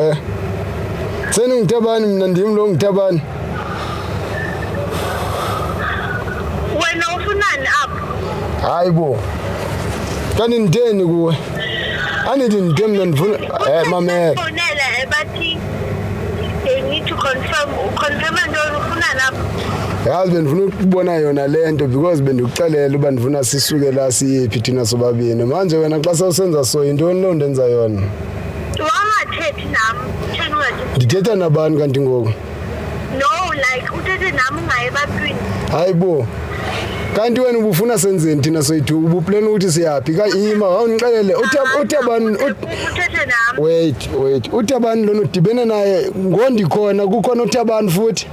Eh. Senu ngitabani mina ndim lo ngitabani. Wena ufunani apho? Hayi bo. Kanti nditheni kuwe? Andithi nditheni mna ndifuna eh mamela. They need to confirm, confirm into oyifuna lapho. yazi bendifuna ukubona yona le nto because bendikuxelela uba ndifuna sisuke la siyephi thina sobabini manje wena xa sewusenza so yintoni loo nto enza yona Wangathethi nam, tshela ungathi. ndithetha nabani kanti ngoku No, like uthethe nam ungayi ebantwini. hayi bo kanti wena ubufuna senzeni thina soyithu ubuplena ukuthi siyaphi kayima wawundixelele uthe- uthe bani ut- Uthethe nam. wait Wait, uThabani lona udibene naye ngondikhona kukhona uThabani futhi.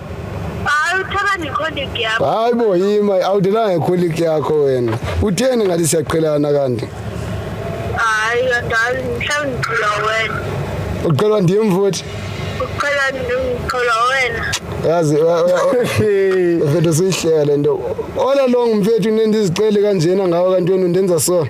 Hayi uThabani icolleague yakho. Hayi bo yima awudelanga icolleague yakho wena. Utheni ngathi siyaqhelana kanti? Hayi yadali mhlawumbe ngicula wena. Uqhelwa ndim futhi. Uqhelwa ndim ngicula wena. Yazi mfethu siyihlele nto. Ola long mfethu nendizicele kanjena ngawe kanti wena undenza sona.